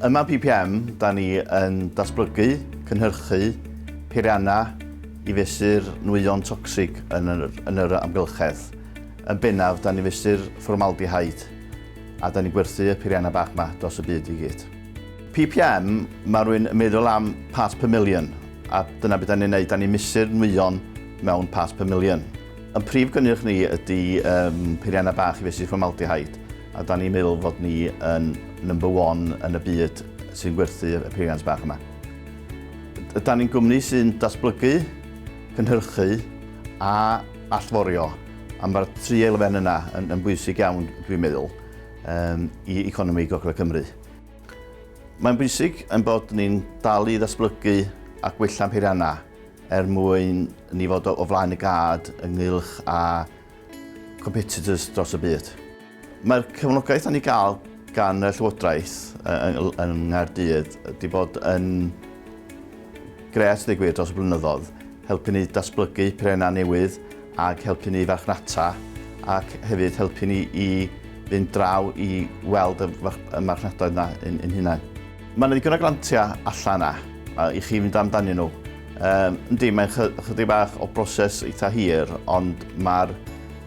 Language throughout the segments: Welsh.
Yma PPM, da ni yn datblygu, cynhyrchu peiriannau i fesur nwyon tocsig yn yr amgylchedd. Yn bennaf, da ni'n fesur fformaldehyde a da ni'n gwerthu y peiriannau bach yma dros y byd i gyd. PPM, mae rhywun yn meddwl am parts per million a dyna beth da ni'n neud, da ni'n mesur nwyon mewn pas pum miliwn. Yn prif gynnyrch ni ydy um, peiriannau bach i fesu formaldehyde, a da ni'n meddwl fod ni yn number one yn y byd sy'n gwerthu y peiriant bach yma. Da ni'n gwmni sy'n datblygu, cynhyrchu a allforio, a mae'r tri elfen yna yn, yn bwysig iawn, dwi'n meddwl, um, i economi Gogledd Cymru. Mae'n bwysig yn bod ni'n dal i ddatblygu a gwella'n peiriannau Er mwyn i ni fod o flaen y gad ynghylch â competitors dros y byd. Mae'r cefnogaeth o'n i gael gan y Llywodraeth yn Nghaerdydd wedi bod yn gret ddweud gwir dros y blynyddoedd, helpu ni datblygu perenau newydd ac helpu ni farchnata ac hefyd helpu ni i fynd draw i weld y marchnadoedd yna yn hunain. Mae yna ddigon o grantiau allan yna uh, i chi fynd amdanyn nhw. Um, yndi, mae'n chydig bach o broses eitha hir, ond mae'r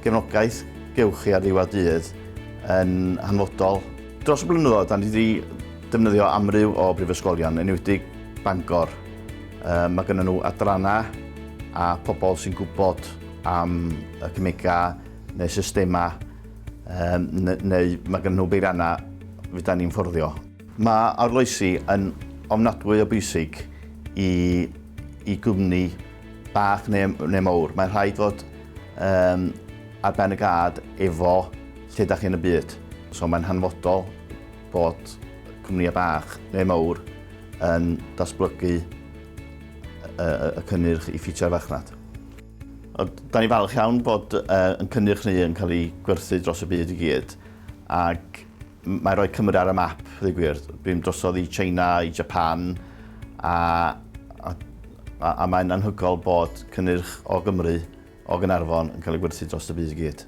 gefnogaeth gewch chi ar ddiwedd dydd yn hanfodol. Dros y blynyddoedd, da ni wedi defnyddio amryw o brifysgolion, enwedig Bangor. Um, mae gennym nhw adrannau a pobl sy'n gwybod am y cymegau neu systemau um, neu mae gennym nhw beiriannau fydda ni'n fforddio. Mae arloesi yn ofnadwy o bwysig i, i gwmni bach neu, neu mawr. Mae'n rhaid fod um, ar ben y gad efo lle da chi'n y byd. So mae'n hanfodol bod cwmnïau bach neu mawr yn datblygu y cynnyrch i ffitio'r farchnad. Da ni falch iawn bod uh, yn cynnyrch ni yn cael ei gwerthu dros y byd i gyd ac Mae rhoi Cymru ar y map, ddweud gwir. Bum drosodd i China, i Japan, a, a, a, a mae'n anhygol bod cynnyrch o Gymru, o Gynarfon, yn cael ei gwerthu dros y byd i gyd.